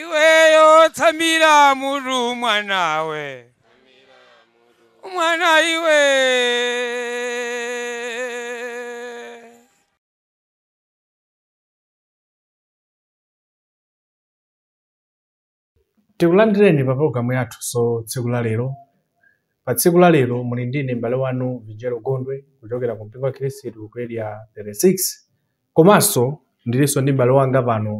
iweyo tsamira mutu mwanawe mwana iwe Tikulandireni pa pologalamu yathunso tsiku la lero. Pa tsiku la lero muli ndine m'bale wanu Vijelo Gondwe kuchokera ku mpingo wa Khristu ku area 36 komanso ndilinso ndi m'bale wanga pano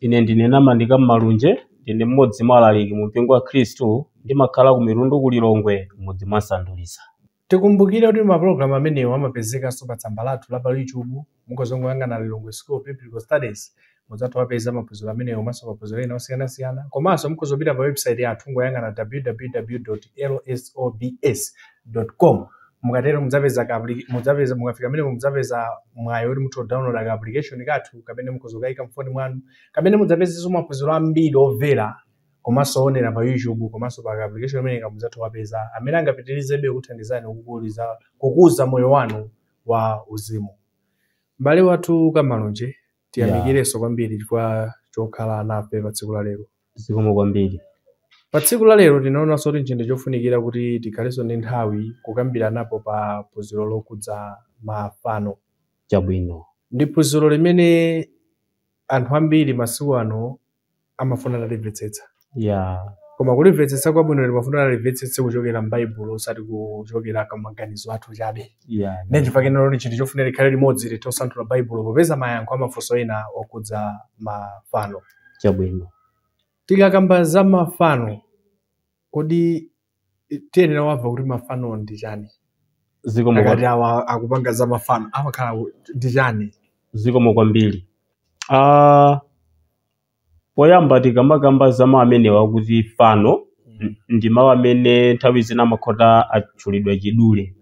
Ine ndine Namandika Mmalunje, ndine mmodzi mwa alaliki mu mpingo wa Khristu, ndimakhala ku Mitundu ku Lilongwe, m'mudzi mwa Nsandulisa. Tikumbukire kuti ma program amenewa amapezekanso pa tsamba lathu la pa YouTube, mukhoza kungoyang'ana Lilongwe School of Biblical Studies mudzatha kuwapeza maphunziro amenewa komanso maphunziro ena osiyanasiyana, komanso mukhoza kupita pa website yathu kungoyang'ana www.lsobs.com mukatero mudzapeza ka applica- mudzapeza mukafika pamenepo mudzapeza mwayi woti mutha kudownloada ka application kathu kamene mukhoza kukayika mfoni mwanu kamene mudzapezenso maphunziro ambiri omvera komanso owonera pa YouTube komanso pa ka application kameneka mudzatha kuwapeza amene angapitirizebe kukuthandizani kukuliza kukuza moyo wanu wa uzimu. M'bale wathu Kamalunje, Yeah. tiyamikirenso kwambiri chifukwa chokhala nafe pa tsiku la lero. Zikomo kwambiri. Pa tsiku la lero tinaonanso kuti nchinthu chofunikira kuti tikhalenso ndi nthawi kukambiranapo pa phunziro lokhudza mafano. Chabwino. Ndi phunziro limene anthu ambiri masiku ano amafuna atalimvetsetsa ya koma kulimvetsetsa kwabwino timafuna tilimvetsetse kuchokera m'baibulo osati kuchokera ku maganizo athu chabe ya ndi chifukwa chake lero ni chinthu chofunika tikhale limodzi tithe kusanthula baibulo popeza mayankho a mafunso ena okhudza mafano chabwino tikakamba za mafano kodi tiyenera kumva kuti mafano ndi chani zikomo akati kwa- awa akupanga za mafano amakhala ku- ndi chani zikomo kwambiri Ah, poyamba tikamakamba za mawu amenewa akuti fano n- ndi mawu amene nthawi zina amakhoza atchulidwa chidule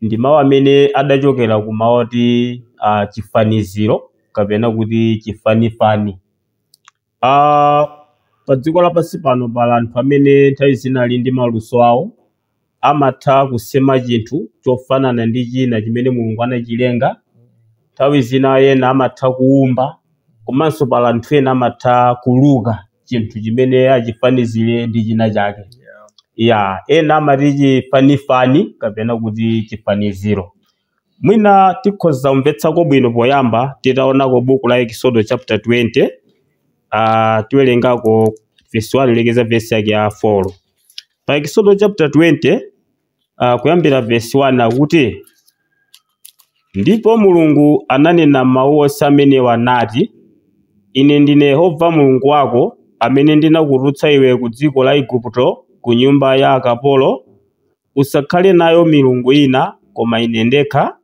ndi mawu amene adachokera ku mawu oti ah, chifaniziro kapena kuti chifanifani Ah, pa dziko lapansi pano pali anthu amene nthawi zina ali ndi maluso awo amatha kusema chinthu chofanana ndi china chimene mulungu anachilenga nthawi zina ena amatha kuwumba komanso pali anthu ena amatha kuluka chinthu chimene achifanizire ndi china chake Yeah. ya ena amati chifanifani kapena kuti chifaniziro Mwina tikhoza kumvetsako bwino poyamba titaonako buku la Ekisodo chapter 20 ah, tiwerengako verse 1 kulekeza verse yake ya 4 pa Ekisodo chapter 20 ah, kuyambira verse 1 akuti ndipo mulungu ananena mawu onse amenewa nati ine ndine yehova mulungu wako amene ndinakutulutsa iwe ku dziko la igupto ku nyumba ya akapolo Usakhale nayo milungu ina koma Ine ndekha.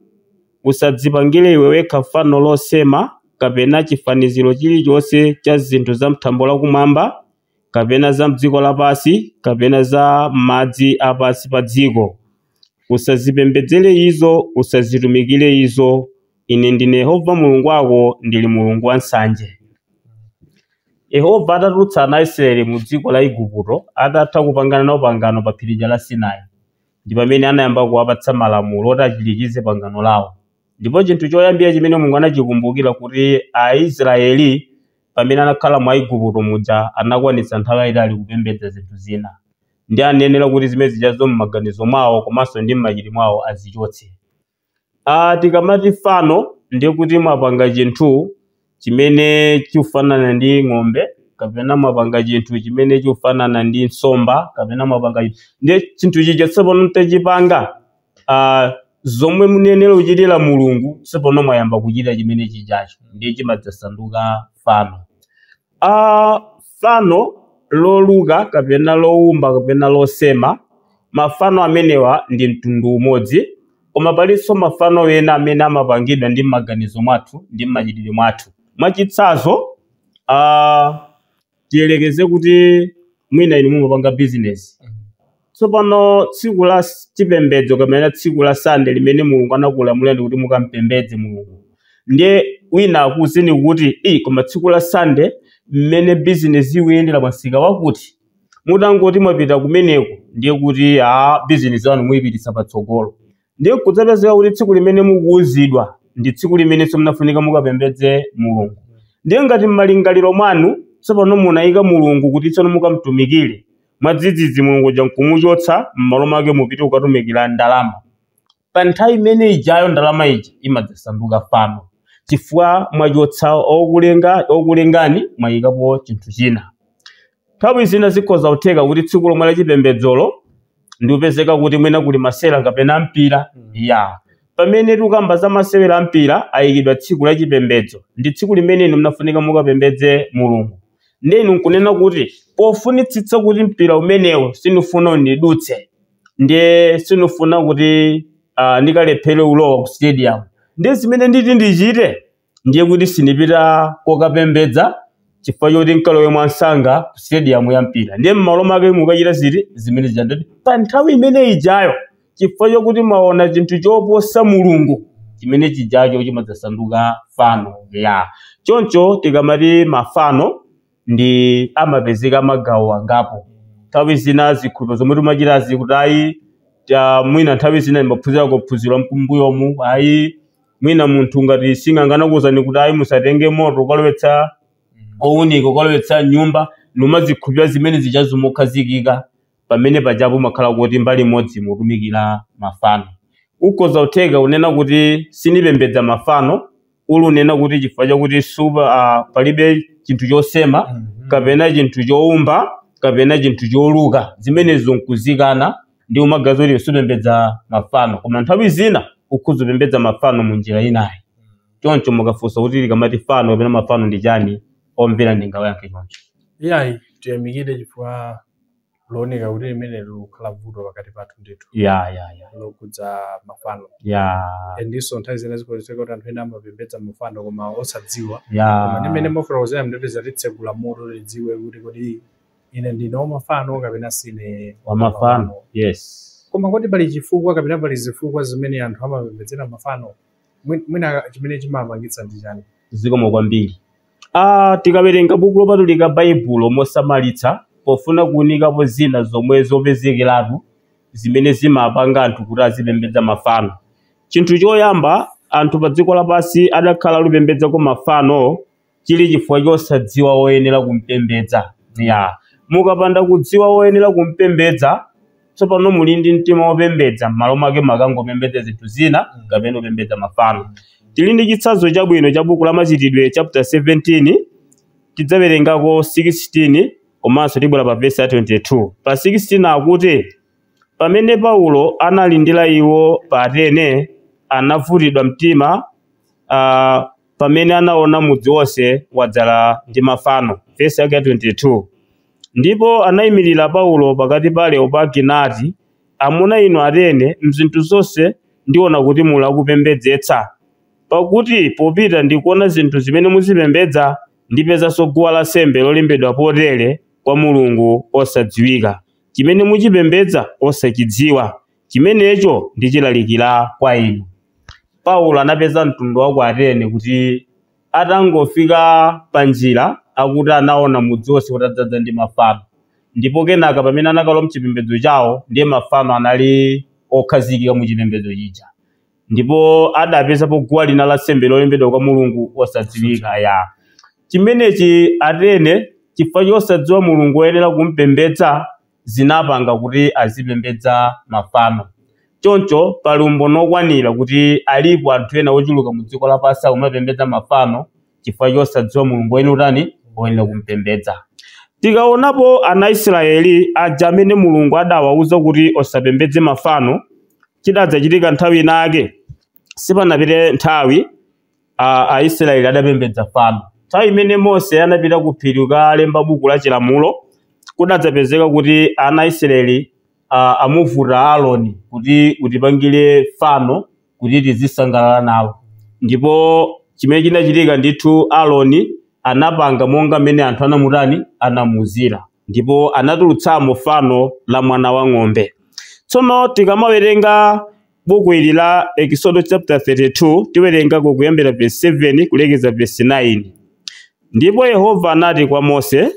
Usadzipangire iwe wekha fano losema kapena chifaniziro chilichonse cha zinthu za m'thambo la kumwamba kapena za m'dziko lapansi kapena za m'madzi a pansi pa dziko. Usazipembedzere izo, usazitumikire izo. Ine ndine Yehova Mulungu wako, ndili Mulungu wansanje. Yehova atatulutsa ana a Isiraeli mu dziko la Iguputo, atatha kupangana nawo pangano pa phiri lija la Sinai, ndi pamene anayamba kuwapatsa malamulo oti achirikize pangano lawo. Ndipo chinthu choyambira chimene Mulungu anachikumbukira kuti Aisiraeli pamene anakhala mu Aiguputo muja anakwanitsa nthawi yaitali kupembedza zinthu zina. Ndiye anayenera kuti zimene zijazo m'maganizo mwawo komanso ndi m'machitidwe mwawo azichotse. Aaa tikamati fano ndiye kuti mwapanga chinthu chimene chikufanana ndi ng'ombe kapena mwapanga chinthu chimene chikufanana ndi nsomba kapena mwapanga chi- ndiye chinthu chija tsopano mtachipanga ah, zomwe munayenera kuchitira mulungu tsopano mwayamba kuchitira chimene chijacho ndiye chimadzasanduka fano a Fano loluka kapena loumba kapena losema, mafano amenewa ndi mtundu umodzi. Koma palinso mafano ena amene amapangidwa ndi m'maganizo mwathu ndi m'machitidwe mwathu. Mwachitsanzo, a tiyerekeze kuti mwina inu mumapanga bizinesi. Tsopano, tsiku la chipembedzo kapena tsiku la Sande limene Mulungu anakulamulani kuti mukampembedze Mulungu, ndiye wina akuuzeni kuti, Ei, koma tsiku la Sande mmene bizinesi ikuyendera pa msika wakuti, mutangoti mwapita kumeneko ndiye kuti, a, bizinesi yanu muipititsa patsogolo. ndiye nkudzapezeka kuti tsiku limene mukuwuzidwa ndi tsiku limene so munafunika mukapembedze mulungu ndiye ngati m'malingaliro mwanu tsopano munayika mulungu kuti tsono mukamtumikire mwadzidzidzi mulungu uja nkumuchotsa m'malo mwake mupite kukatumikira ndalama pa nthawi imene ijayo ndalama ija imadzasanduka fano chifukwa mwachotsa okulenga okulengani mwayikapo chinthu china Nthawi zina zikhoza kutheka kuti tsiku lomwe la chipembedzolo ndikupezeka kuti mwina kuli masewera kapena a mpira ya pamene tikukamba za masewera a mpira ayikidwa tsiku la chipembedzo ndi tsiku limene inu mnafunika mukapembedze mulungu ndiye inu nkunena kuti pofunitsitsa kuti mpira umenewo sindifuna undidutse ndiye sindifuna kuti ah, ndikalephere ulowa ku stadium ndiye zimene nditi ndichite ndiye kuti sindipita kokapembedza chifukwa choti nkalowe mwansanga ku stadium ya mpira ndiye m'malo mwake mukachita ziti zimene zija nzoti pa nthawi imene ijayo chifukwa chokuti mwaona chinthu choposa mulungu chimene chijacho chimadzasanduka fano ya choncho tikamati mafano ndi amapezeka magawo angapo nthawi zina zikhulupiriro zomwe timachitazi kuti ayi ta- mwina nthawi zina ndimaphunzira kuphunzira mkumbuyomu ayi mwina munthu ngati sing'anga anakuuzani kuti ayi musatenge moto ukalowetsa owunika ukalowetsa m'nyumba numazikhulupirira zimene zijazo mokhazikika pamene pajapo mmakhala kuti mbali imodzi mutumikira mafano. Ukhoza kutheka unena kuti sinipembedza mafano uli unena kuti chifukwa chakuti supa a palibe chinthu chosema kapena chinthu choumba kapena chinthu choluka zimenezo nkuzikana ndi m'magazi kuti supembedza mafano koma nthawi zina ukhoza kupembedza mafano mu njira inayo choncho mukafunsa kuti tikamati fano kapena mafano ndi chani omvera ndingawayankhe choncho iyayi tiyamikire chifukwa zuoneka kuti limeneli likukhala vuto pakati pathu ndithu ya ya ya lokhudza mafano ya ndiponso nthawi zina zikhoza kutheka kuti anthu ena amapembedza mafano koma osadziwa koma ndi mmene ya mwafotokozera ndithu zatitsegula maso tidziwe kuti kodi ine ndine wamafano kapena sine wamafano yes koma kodi pali chifukwa kapena pali zifukwa zimene anthu amapembedzera mafano Mwi- mwina chimene chimapangitsa ndi chani zikomo kwambiri ah, tikawerenga buku lopatulika baibulo mosamalitsa pofuna kuunikapo zina zomwe zopezekeratu zimene zimapanga anthu kuti azipembedza mafano chinthu choyamba anthu pa dziko lapansi adakhala alikupembedzako mafano chili chifukwa chosadziwa woyenera kumpembedza. Ya. Mukapanda kudziwa woyenera kumpembedza, tsopano muli ndi mtima wopembedza, m'malo mwake mumakangopembedza zinthu zina kapena kupembedza mafano. Tili ndi chitsanzo chabwino cha buku la Machitidwe chapter 17, tidzawerengako 16 komanso tibwera pa vesi ya 22. Pa 16 akuti, pamene Paulo analindira iwo pa Atene, anavutidwa mtima ah, pamene anaona mudzi wonse wadzala ndi mafano. Vesi yake ya 22. Ndipo anayimirira Paulo pakati pa Areopagi nati, Amuna inu Atene, m'zinthu zonse ndiona kuti muli akupembedzetsa. Pakuti popita ndikuona zinthu zimene muzipembedza, ndinapezanso guwa lansembe lolembedwa potere kwa Mulungu osadziwika, chimene muchipembedza osachidziwa. Chimenecho ndichilalikira kwa inu. Paulo anapeza mtundu wa ku Atene kuti atangofika panjira akuti anaona mudzi wonse utadzaza ndi mafano, ndipo kenaka pamene anakalowa m'chipembedzo chawo ndiye mafano anali okhazikika mu chipembedzo chija, ndipo adapezapo guwa lina la nsembe lolembedwa kwa Mulungu osadziwika. Ya chimenechi Atene chifukwa chosadziwa Mulungu oyenera kumpembedza. zinapanga kuti azipembedza mafano. Choncho pali umboni wokwanira kuti alipo anthu ena ochuluka mu dziko lapansi amapembedza mafano chifukwa chosadziwa Mulungu woyenera kutani, woyenera kumupembedza. Tikaonapo ana a Israyeli aja amene Mulungu adawauza kuti osapembedze mafano, chidadzachitika nthawi inayake, sipanapite nthawi, a Aisiraeli adapembedza fano. Nthawi imene Mose anapita ku phiri kukalemba buku la Chilamulo, kudadzapezeka kuti ana a Isiraeli amuvuta Aroni kuti, Utipangire fano kuti tizisangalala nawo. Ndipo chimene chinachitika ndithu, Aroni anapanga monga mmene anthu anamutani? Anamuuzira. Ndipo anatulutsamo fano la mwana wa ng'ombe. Tsono tikamawerenga Buku ili la Eksodo chapter 32 tiwerengako kuyambira verse 7 kulekeza verse 9. Ndipo Yehova anati kwa Mose,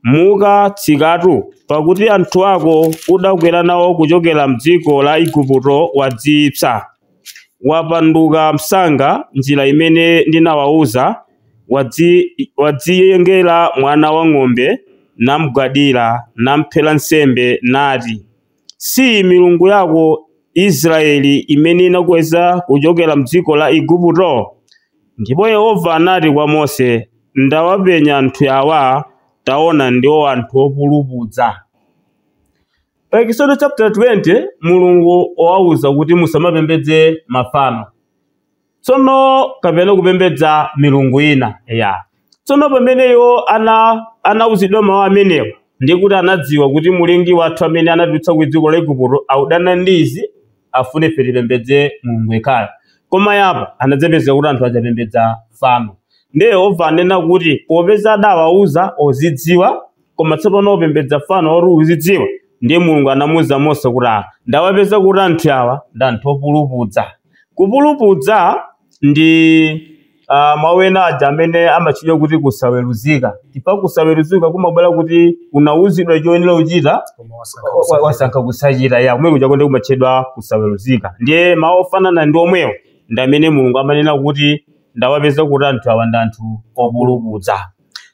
Muka tsikatu, pakuti anthu ako udakwera nawo kuchokera m'dziko la Igupto wadziyipsa. Wapanduka msanga njira imene ndinawawuza, wadziyengera mwana wa ng'ombe, namgwadira, namphera nsembe, nati, Siyi milungu yako Israeli imene inakukweza kuchokera m'dziko la Igupto? Ndipo Yehova anati kwa Mose, Ndawapenya anthu awa, taona ndiwo anthu opulupudza. Pa Ekisodo chaputala 20, Mulungu wawawuza kuti musamapembedze mafano. tsono kapena kupembedza milungu ina ya tsono pamene iwo anauzidwa mawu amenewo ndi kuti anadziwa kuti mulengi wathu amene anatitulutsa ku dziko la igupto akudana ndi izi afune ife tipembedze mulungu yekhayo koma apa anadzapezeka kuti anthu adzapembedza fano ndiye yehova anena kuti popeza adawauza ozidziwa koma tsopano opembedza fano oti uzidziwa ndiye mulungu anamuwuza mose kuti aa ndawapeza kuti anthu awa ndi anthu opulupudza kupulupudza ndi uh, mawu ena aja amene amatchedwa kuti kusaweruzika chifukwa kusaweruzika kumabwera kuti unawuzidwa choyenera kuchita koma wasankha wa- wa- wasankha kusachita ya kumene kuja konse kumatchedwa kusaweruzika ndiye mawu ofanana ndi omwewo ndi amene mulungu amanena kuti ndawapeza kuti anthu awa ndi anthu opulupudza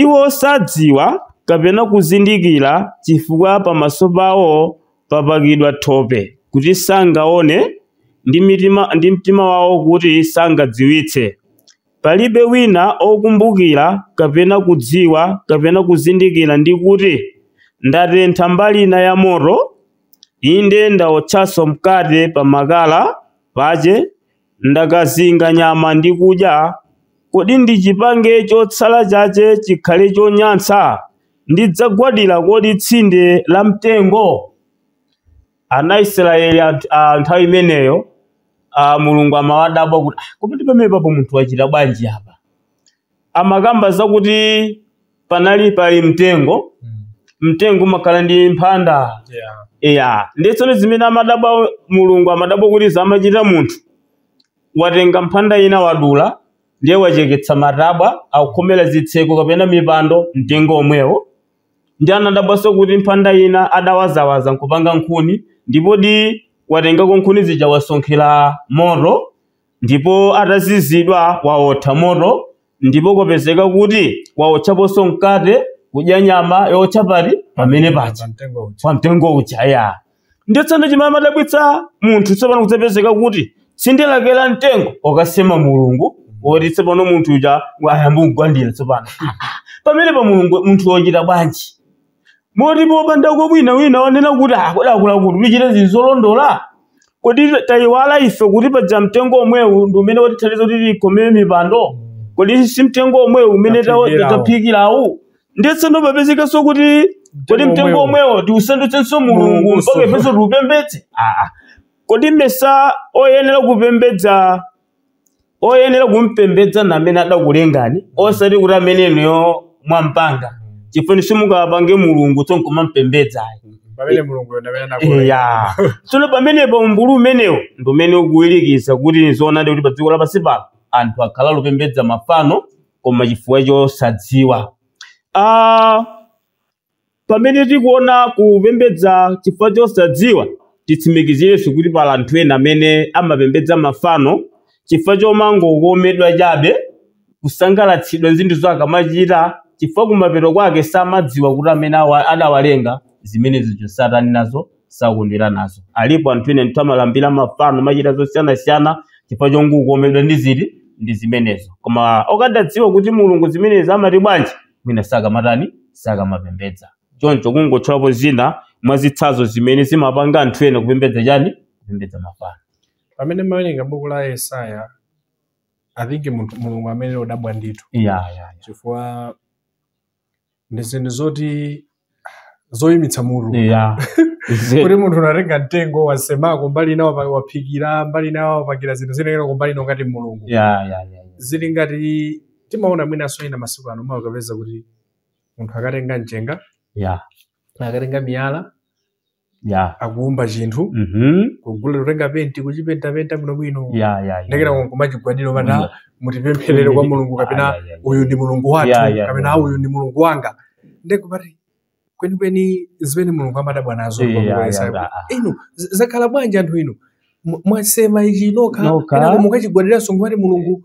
Iwo sadziwa kapena kuzindikira chifukwa pamaso pawo papakidwa thope kuti sangaone ndi mitima ndi mtima wawo kuti sangadziwitse. Palibe wina okumbukira kapena kudziwa kapena kuzindikira ndi kuti, Ndatentha mbali ina ya moto, inde ndawotchanso mkate pa makala pache ndakazinga nyama ndi kudya, kodi ndichipange chotsala chache chikhale chonyansa? Ndidzagwadira kodi tsinde la mtengo? Ana a Israyeli a nthawi imeneyo, Mulungu amawadabwa kuti, Kodi pamenepapo munthu wachita bwanji apa? Amakamba zakuti panali pali mtengo Mm. mtengo umakhala ndi mphanda Yeah. eya ndiye tsono zimene amadabwa mulungu amadabwa kuti zomwe amachita munthu watenga mphanda ina wadula ndiye wacheketsa matabwa akukhomera zitseko kapena mipando mtengo omwewo ndiye anadabwanso kuti mphanda ina adawazawaza nkupanga nkhuni ndipodi watengako nkhuni zija wasonkhera moto ndipo atazizidwa waotha moto ndipo kwapezeka kuti waotchaponso mkate kudya nyama yootcha pa pamene paja pamtengo uja pa mtengo uja ya ndiye tsopano chimene amadabwitsa munthu tsopano kuzapezeka kuti tsinde lake la mtengo wakasema mulungu woti tsopano munthu uja ayamba kumugwadira tsopano Ah, ah. pamene pa mulungu munthu wachita bwanji moti popanda kwa wina wina wonena kuti aa kodi akulu kuti tichite zinthu zolondola kodi tayiwala ife kuti paja mtengo omwewu ndi umene watithandiza kuti tikhomere mipando kodi si mtengo omwewu umene tawo- Taphikirawo. taphikirawo ndiye tsono papezekanso kuti kodi Mtengo mtengo omwewu. omwewo tiusandutsenso mulungu Mulungu mpaka ifenso tiupembedze aa kodi ndimayesa oyenera kupembedza oyenera kumpembedza ndi amene adakulengani osati kuti amene inuyo mwampanga chifukwa simungapange mulungu tsono nkumampembedza ayi pamene mulunguyo ndi amene anakulenga ya tsono pamenepo umbulu umenewo ndi umene ukuwirikiza kuti zoonadi kuti pa dziko lapansi pano anthu akhala akupembedza mafano koma chifukwa chosadziwa ah, pamene tikuona kupembedza chifukwa chosadziwa, titsimikizirenso kuti pali anthu ena amene amapembedza mafano chifukwa chomangokomedwa chabe, kusangalatsidwa ndi zinthu zimene akamachita, chifukwa kumapeto kwake samadziwa kuti amene awa- adawalenga zimene zija satani nazo sakondwera nazo. Alipo anthu ena ndithu amalambira mafano, amachita zosiyanasiyana chifukwa chongokomedwa ndi chiyani ndi zimenezo. Koma okadadziwa kuti Mulungu zimenezi amati bwanji? mwina sakamatani sakamapembedza choncho kungotchulapo zina mwa zitsanzo zimene zimapanga anthu ena kupembedza chani kupembedza mafano pamene muwerenga buku la yesaya i think munthu- mulungu amakhala odabwa ndithu ya ya ya. chifukwa ndi zinthu zoti zoyimitsa mutu ya kuti munthu unatenga mtengo wasemako mbali ina wapa- waphikira mbali ina wapangira zinthu zinazake mbali ina ngati mulungu ya ya ya ya. zili ngati timaona mwinanso ena masiku ano umakapeza kuti munthu akatenga mchenga ya akatenga miyala ya akuumba chinthu mhm kugula kutenga penti kuchipentapenta bwinobwino ya ya ya. ndekuyamba kumachigwadira Bwino. amayi mutipempherere kwa mulungu kapena Ah, ya, ya, ya. uyu ndi mulungu wathu Ya, ya, kapena ya. uyu ndi mulungu wanga nde ukupeza kuti kwenikweni zimene mulungu amadabwa nazo Eh, kwa ya, Mulungu ya, Yesaya. ya, ah. inu z- zakhala bwanji anthu inu Mwa- mwasema ichi nokha Nokha. kenako mukachigwadiranso ngati mulungu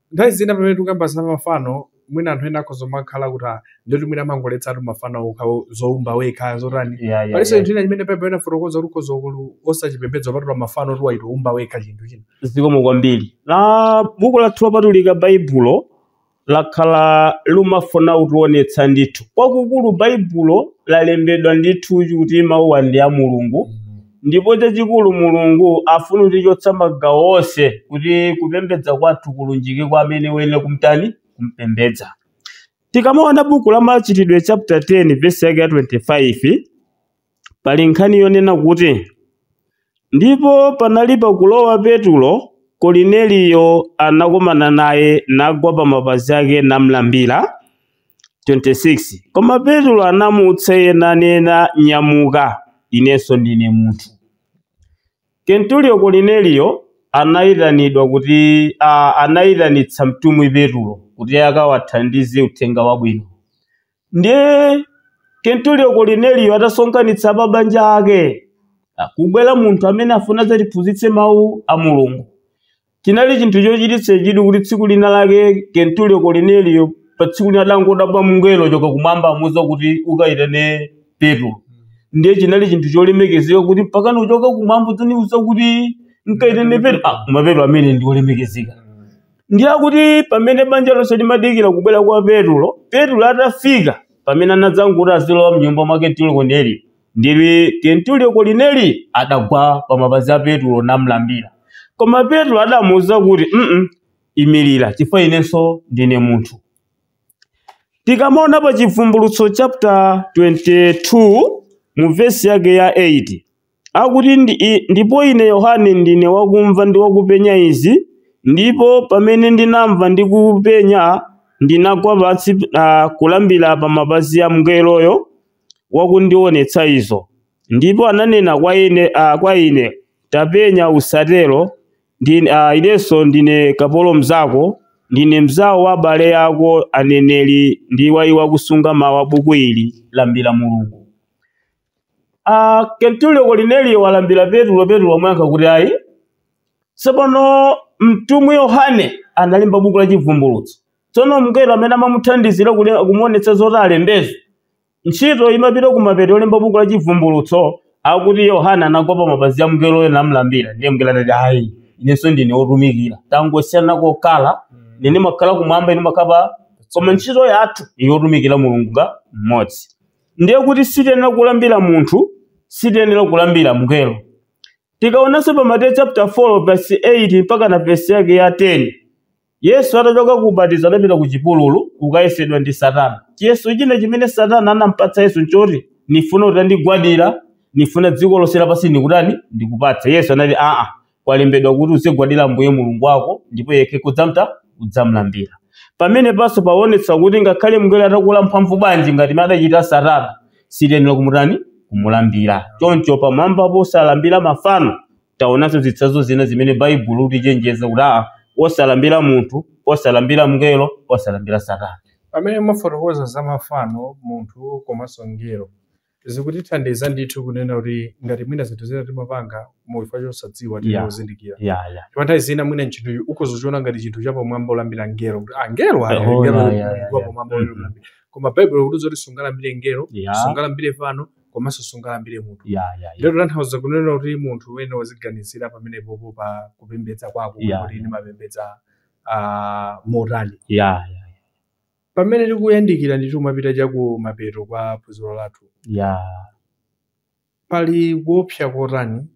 Nthawi zina pamene tikukamba za mafano, mwina anthu ena akhoza kumakhala kuti "Ah, ndiye kuti mwina amangoletsatu mafano okha o- zoumba wekha zotani Yeah, yeah, palinso yeah. chinthu china chimene baibulo linafotokoza kuti ukhoza kulu- osachipembedza kupatula mafano kuti wachita kuumba wekha chinthu china zikomo kwambiri a buku lathu lopatulika baibulo lakhala limafuna kutionetsa ndithu kwakukulu baibulo lalembedwa ndithu kuti mawuwa ndi a mulungu Ndipo chachikulu Mulungu afuna kutichotsa magawo onse kuti kupembedza kwathu kulunjike kwa amene ayenera kumtani kumpembedza. Tikamaona buku la Machitidwe chapter 10 verse yake ya 25 pali nkhani yonena kuti ndipo panali pakulowa Petulo Kolineliyo anakomana naye nagwa pa mapazi ake namlambira 26 koma petulo anamuutsa iye nanena nyamuka inenso ndine munthu kenturiyo kolineliyo anayitanidwa kuti a, anayitanitsa mtumwi petulo kuti akawathandize uthenga wabwino ndiye kenturiyo kolineliyo atasonkhanitsa pabanja pake kukubwera munthu amene afuna zatiphunzitse mawu a mulungu Chinali chinthu chochititsa chidwi kuti tsiku lina lake Kenturiyo Korneliyo pa tsiku lina adangodabwa mngelo kuchoka kumwamba amuuza kuti ukayitane Petulo. Ndiye chinali chinthu cholemekezeka kuti mpakana kuchoka kumwamba kudzandiuza kuti nkayitane Petulo. Ah, koma Petulo ameneyu ndi olemekezeka. Ndiye akuti pamene banja lonse limadikira kubwera kwa Petulo, Petulo atafika pamene anadzangoti akulowa mnyumba mwa Kenturiyo Korneliyo. Ndiye Kenturiyo Kolineli adagwa pa mapazi a Petulo namlambira. Koma Petulo adamuuza kuti, mm imirira, chifukwa inenso ndine munthu. Tikamaona pa Chivumbulutso chapter 22 mu vesi yake ya 8 akuti ndi, i- ndipo ine Yohane ndine wakumva ndi wakupenya izi, ndipo pamene ndinamva ndi kupenya ndinagwa pansi uh, kulambira pa mapazi a mngeloyo wakundiwonetsa izo. Ndipo ananena kwa ine, a, kwa ine, Tapenya, usatero, ndi, a, inenso ndine kapolo mzako, ndine mzawo wa abale ako aneneri ndi wa iwo akusunga mawu a buku ili, lambira Mulungu. A, Kenturiyo Korneliyo walambira Petulo, Petulo wamuyankha kuti ayi. Tsopano mtumwi Yohane analemba buku la Chivumbulutso. tsono mngelo amene amamuthandizira kule- kumuonetsa zoti alembezo ntchito imapita kumapeto yolemba buku la chivumbulutso akuti yohane anagwa pa mapazi a mngeloyo namlambira ndiye mngelo anati ayi inenso ndine wotumikira tangosiyana kokhala ine ndimakhala kumwamba inu mumakhala pa koma ntchito yathu ndi yotumikira mulungu nga mmodzi ndiye kuti sitiyenera kulambira munthu sitiyenera kulambira mngelo tikaonanso pa mateyu chapter 4 verse 8 mpaka na verse yake ya 10 Yesu atachoka ku ubatizo adapita ku chipululu kukayesedwa ndi Satana. Chiyeso china chimene Satana anampatsa Yesu nchoti, nifuna utandigwadira, nifuna dziko lonse lapansi ndikutani, ndikupatse. Yesu anati, aa, kwalembedwa kuti uzigwadira Ambuye Mulungu wako, ndipo yekha udzamta, udzamlambira. Pamenepanso pakuonetsa kuti ngakhale mngelo atakula mphamvu bwanji ngati mmene adachitira Satana, sitiyenera kumutani, kumulambira. Choncho pamwambapo osalambira mafano, taonanso zitsanzo zina zimene baibulo likutichenjeza kuti aa osalambira munthu osalambira mngelo osalambira satana pamene mwafotokoza za mafano munthu komanso mngelo zikutithandiza ndithu kunena kuti ngati mwina zinthu zina timapanga chifukwa chosadziwa Yeah. tikuzindikira ya ya ndipo nthawi zina mwina munthuyu akudzachiona ngati chinthu chapamwamba kulambira ngelo kuti ah ngelo ayi Oh, ngelo yeah, yeah, yeah, yeah. wapamwamba Mhm. kulambira koma baibulo likuti zoti sungalambire ngelo Yeah. sungalambire fano komanso sungalambire munthu ya ya ya kutanthauza kunena kuti munthu ayenera aziganizira pamenepopo pa kupembedza kwako Yeah. kuti ndimapembedza ah, motani ya ya pamene tikuyandikira ndithu kupita chakumapeto kwa phunziro lathu ya pali kuopsa kotani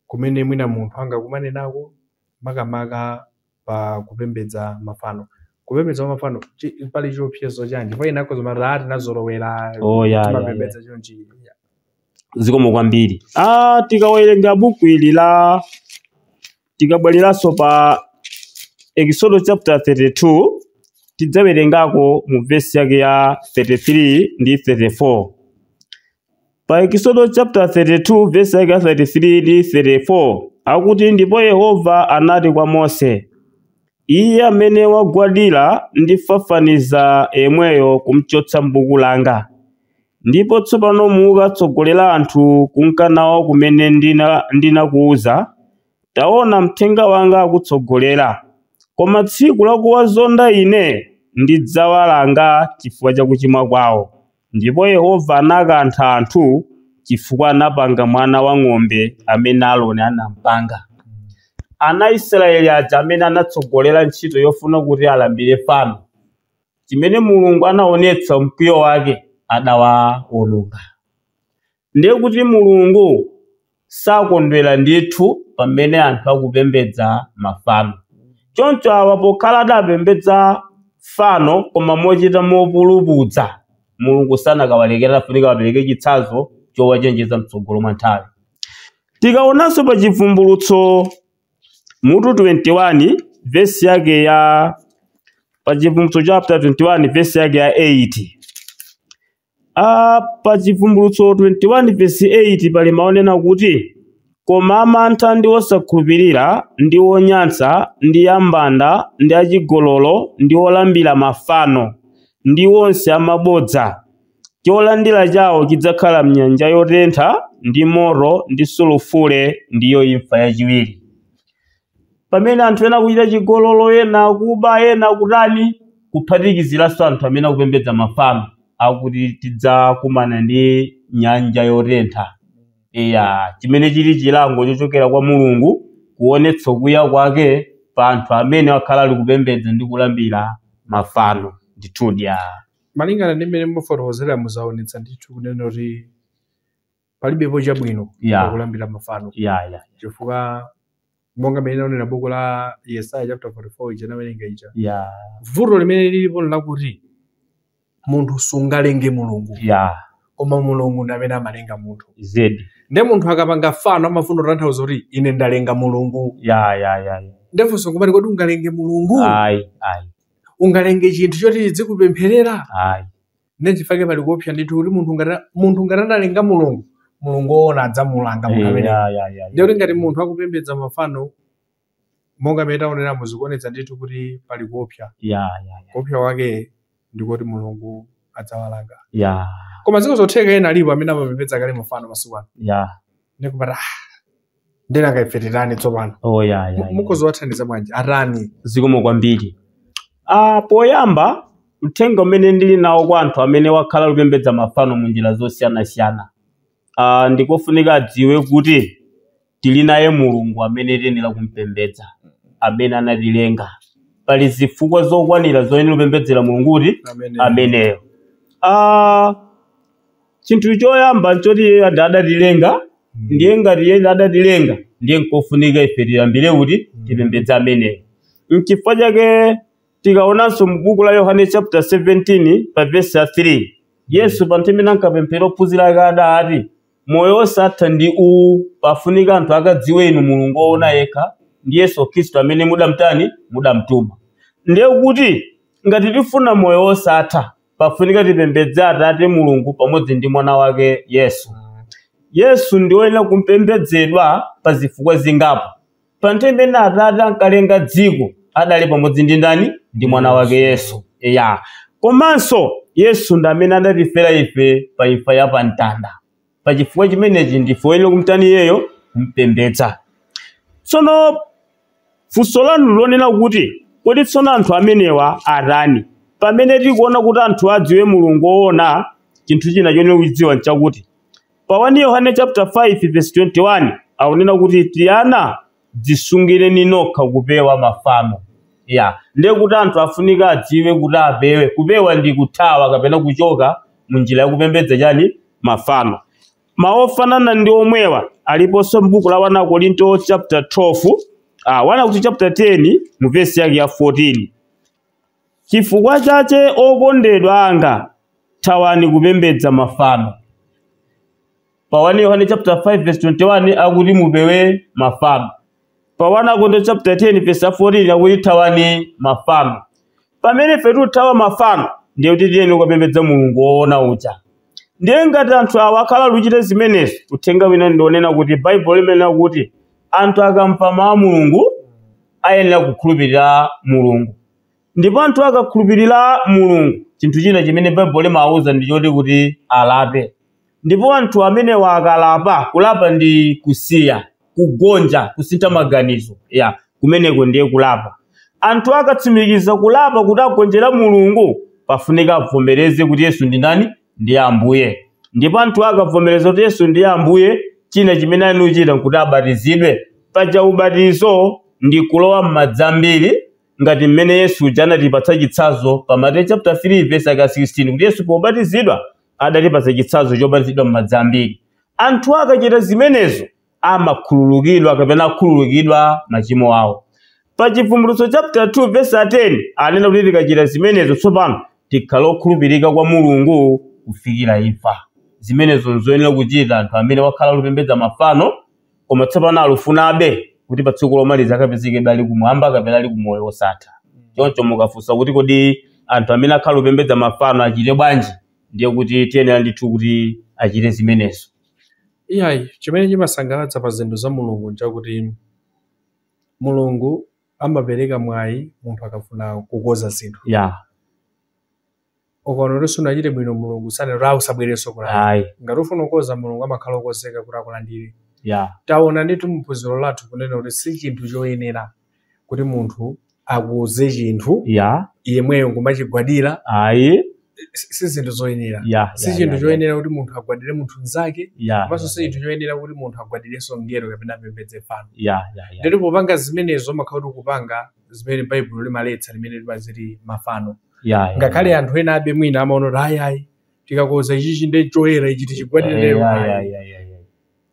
kumene mwina munthu angakumane nako makamaka pa kupembedza mafano. Kupembedza kwa mafano chi- pali chiopsezo chanji? Ndipo ena akhoza kumati ah tinazolowera Oh, ya, ya, ya. timapembedza chonchi. zikomo kwambiri ah, tikawerenga buku ili la tikabwereranso pa ekisodo chapter 32 tidzawerengako mu vesi yake ya 33 ndi 34 Pa Ekisodo chapter 32 verse yake ya 33 ndi 34 akuti ndipo Yehova anati kwa Mose, Iye amene wagwadira ndifafaniza yemweyo kumchotsa m'buku langa. Ndipo tsopano muka tsogolera anthu kunka nawo kumene ndinakuwuza. Taona mthenga wanga akutsogolera. Koma tsiku lakuwazonda ine ndidzawalanga chifukwa cha kuchimwa kwawo. Ndipo Yehova anakantha anthu chifukwa anapanga mwana wa ng'ombe amene Aroni anampanga. Ana Israyeli aja amene anatsogolera ntchito yofuna kuti alambire fano, chimene Mulungu anaonetsa mkwiyo wake, adawaononga. Ndiye kuti Mulungu sakondwera ndithu pamene anthu akupembedza mafano. Choncho awa pokhala adapembedza fano koma mochita mopulupudza, Mulungu sanakawalekera, adafunika awapereke chitsanzo chowachenjeza mtsogolo mwa nthawi. Tikaonanso pa Chivumbulutso mutu 21 vesi yake ya pa Chivumbulutso chapter 21 vesi yake ya 8 a Pa Chivumbulutso 21 vesi 8 pali mawu onena kuti, Koma amantha ndi osakhulupirira, ndi onyansa, ndi ambanda, ndi achigololo, ndi olambira mafano, ndi onse amabodza, cholandira chawo chidzakhala m'nyanja yotentha ndi moto ndi sulufule, ndiyo imfa yachiwiri. pamene anthu ena akuchita chigololo, ena akuba, ena akutani, kuphatikiziranso anthu amene akupembedza mafano, akuti tidzakumana ndi nyanja yotentha. Eya, chimene chili chilango chochokera kwa Mulungu kuonetsa kukwiya kwake pa anthu amene akhala ali kupembedza ndi kulambira mafano. Ndithudi a. Malingana ndi mmene mukufotokozera zaonetsa ndithu kunena kuti. palibepo chabwino yeah. pakulambira mafano yeah, yeah. chifukwa monga mmene naonera buku la yesaya chapter 44 ija nawerenga ija yeah. vuto limene lilipo nlakuti munthu sungalenge mulungu yeah. koma mulungu ndi amene amalenga munthu zedi nde munthu akapanga fano amafuna kutanthauza kuti ine ndalenga mulungu yeah, yeah, yeah. nde funso nkumati kodi ungalenge mulungu ayi ayi ungalenge chinthu choti chidzikupempherera ayi nde chifukwa chake pali kuopsa ndithu kuti munthu ngati munthu ngati analenga mulungu mulungu woona adzamulanga munthu Eh, amene ya, ya, ya, ya. ndiye kuti ngati munthu akupembedza mafano monga mmene taoneramu zikuonetsa ndithu kuti pali kuopsa Ya, ya, ya. kuopsa kwake ndikuti mulungu adzawalanga ya koma nziko zotheka ena alipo amene amapembedza kale mafano masiku ano ya ndikupata ndinanga ife titani tsopano oh, yeah, yeah, yeah. mukhoza kuwathandiza bwanji atani zikomo kwambiri ah, poyamba uthenga umene ndili nawo kwa anthu amene akhala akupembedza mafano mu njira zosiyanasiyana ah, ndikofunika adziwe kuti tili naye mulungu amene tiyenera kumpembedza amene anatilenga pali zifukwa zokwanira zoyenera kupembedzera mulungu kuti ameneyo ah, Chinthu choyamba nchoti iyeyo ada- adatilenga ndiye ngati iye adatilenga ndiye nkofunika ife tiyambire kuti tipembedze ameneyo nchifukwa chake tikaonanso mu buku la yohane chapter 17 pa vesi ya 3 yesu pa nthawi imene ankapempherera ophunzira ake adati moyo wosatha ndi uwu pafunika anthu akadziwe inu mulungu woona yekha ndi yesu khristu amene mudamtani mudamtuma ndiye kuti ngati tifuna moyo wosatha pafunika tipembedze atate mulungu pamodzi ndi mwana wake yesu yesu ndi woyenera kupembedzedwa pa zifukwa zingapo pa nthawi imene atate ankalenga dziko adali pamodzi ndi ndani ndi mwana wake yesu ya komanso yesu ndi amene adatifera ife pa imfa ya pamtanda pa chifukwa chimenechi ndife oyenera kumtani iyeyo kumpembedza tsono funso lanu lonena kuti kodi tsono anthu amenewa atani pamene tikuona kuti anthu adziwe mulungu woona chinthu china choyenera kuchidziwa nchakuti pa 1 yohane chapter 5 verse 21 akunena kuti tiana dzisungireni nokha kupewa mafano ya ndiye kuti anthu afunika adziwe kuti apewe kupewa ndi kuthawa kapena kuchoka mu njira yakupembedza chani mafano mawu ofanana ndi omwewa aliponso m'buku la 1 akorinto chapter 12 ah, 1 akorinto chapter 10 mu vesi yake ya 14 chifukwa chache okondedwa anga thawani kupembedza mafano pa 1 yohane chapter 5 verse 21 akuti mupewe mafano pa 1 akorinto chapter 10 verse 14 akuti thawani mafano pamene ife tithawa mafano ndiye kuti tiyenera kukapembedza mulungu woona uja ndiye ngati anthu awa akhala akuchita zimenezi uthenga wina ndi wonena kuti baibulo limanena kuti anthu akamva mawu a mulungu ayenera kukhulupirira mulungu ndipo anthu akakhulupirira mulungu chinthu china chimene baibulo limawuza ndi choti kuti alape ndipo anthu amenewa akalapa kulapa ndi kusiya kugonja kusintha maganizo ya kumeneko ndiye kulapa anthu akatsimikiza kulapa kuti agonjera mulungu pafunika avomereze kuti yesu ndi ndani ndi ambuye ndipo anthu akavomereza kuti yesu ndi ambuye china chimene anachita nkuti abatizidwe paja ubatizo ndi kulowa m'madzi ambiri ngati mmene Yesu uja anatipatsa chitsazo pa Mateyu chapter 3 verse yaka 16 kuti Yesu pobatizidwa adatipatsa chitsazo chobatizidwa m'madzi ambiri. Anthu akachita zimenezo amakhululukidwa kapena akhululukidwa machimo awo. Pa Chivumbulutso chapter 2 verse 10 anena kuti tikachita zimenezo tsopano tikhale okhulupirika kwa Mulungu kufikira imfa. Zimenezo nzoyenera kuchita anthu amene akhala akupembedza mafano koma tsopano alufunabe kuti pa tsiku lomaliza akapezeke ali kumwamba kapena ali kumoyo wosatha choncho mukafunsa kuti kodi anthu amene akhala kupembedza mafano achite bwanji ndiye kuti ayenera ndithu kuti achite zimenezo iyayi chimene chimasangalatsa pa zinthu za mulungu nchakuti mulungu amapereka mwayi munthu akafuna kukoza zinthu ya ukaona kuti sunachite bwino mulungu sanena kuti ayi usabwerenso kulapa ayi ngati ufuna kukoza mulungu amakhala okozeka kuti akulandire ya taona ndithu muphunziro lathu kunena kuti si chinthu choyenera kuti munthu akoze chinthu ya yemweyo nkumachigwadira ayi si si zinthu zoyenera ya si chinthu choyenera kuti munthu agwadire munthu mnzake ya komanso si chinthu choyenera kuti munthu agwadirenso mngelo kapena apembedze fano ya ya ya ndipo popanga zimenezo umakhala kuti ukupanga zimene baibulo limaletsa limene limati mafano Yeah, yeah. ngakhale anthu ena abe mwina amaona kuti ayi ayi tikakonza ichichi ndi choyera ichi tichigwadire Yeah, lero yeah, ayi. yeah, yeah, yeah, yeah.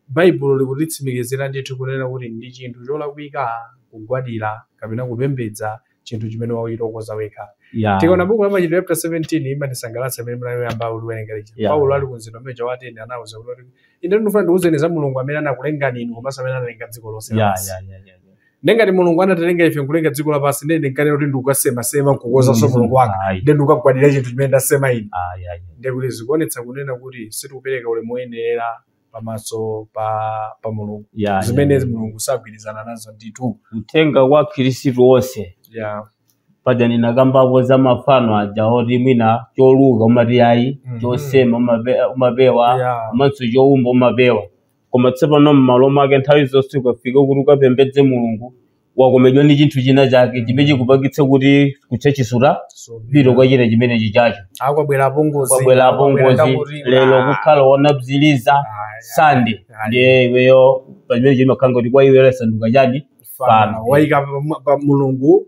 baibulo likutitsimikizira ndithu kunena kuti ndi chinthu cholakwika kugwadira kapena kupembedza chinthu chimene wachitokonza wekha Yeah. tikaona buku la machitidwe chapter 17 limatisangalatsa limene mnayamba kuliwerenga lija Yeah. paulo ali kumzinda uja wa atene anauza kuti ine ndinofuna ndikuuzeni za mulungu amene anakulengani inu komanso amene analenga dziko lonse Yeah, lapansi." yeah, yeah, yeah, yeah. ndiye ngati mulungu anatilenga ife nkulenga dziko lapansi ndiye ndinkanena kuti ndikukasemasema nkukonzanso mulungu wanga Ayi, ndiye ndikukagwadira chinthu chimene ndasema ine ayi, ayi. ndiye kuti zikuonetsa kunena kuti sitikupereka ulemu woyenera pamaso pa pa mulungu Ya, ya, zimene ya. mulungu sagwirizana nazo ndithu uthenga kwa akhristu onse ya paja ndinakambapo za mafano aja oti mwina choluka umati ayi Mhm. chosema umape- umapewa ya komanso choumba umapewa koma tsopano m'malo mwake nthawi zonse ukafika kuti ukapembedze mulungu wakomedwa ndi chinthu china chake chimene chikupangitsa kuti kutchachi sutapita kwa china chimenechi chacho akwabwera apongozi kwabwera apongozi lero kukhala wonabziliza sande Ayi. ndiye iweyo pamene chimakhala kuti kwa iwe lasanduka chani fano waika pa- pa mulungu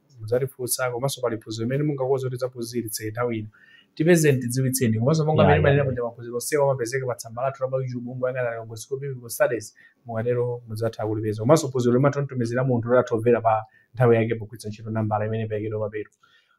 mudzatifunsa komanso pali phunziro limene mungakonde kuti tidzaphunzitse nthawi ino tipezeni tidziwitseni komanso monga mmene timanena kuti maphunziro onsewa amapezeka pa tsamba lathu la pa youtube mungoyang'ana Lilongwe School of Biblical Studies mukatero mudzatha kulipeza komanso phunziro limatha kutumizidwa munthu kuti athe kumvera pa nthawi yake pogwiritsa ntchito nambala imene iperekedwa pomwepo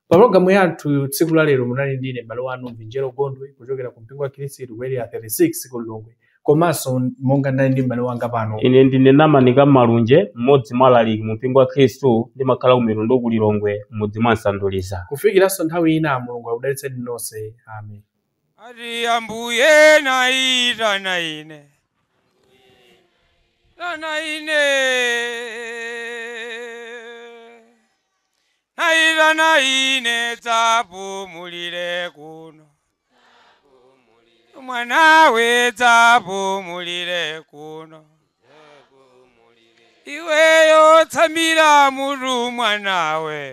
pa programu yathu tsiku la lero munali ndine m'bale wanu mvinjero gondwe kuchokera ku mpingo wa khristu ku area 36 ku lilongwe komanso monga ndinali ndi m'bale wanga pano ine ndine namani kamalunje mmodzi mwa alaliki mu mpingo wa khristu ndimakhala ku mitundu ku lilongwe m'mudzi mwa msanduliza kufikiranso nthawi ina mulungu akudalitseni nonse amen ati ambuye naitana ine naitana ine naitana ine dzapumulire kuno mwanawe dzapumulire kuno iweyo tsamira mutu mwanawe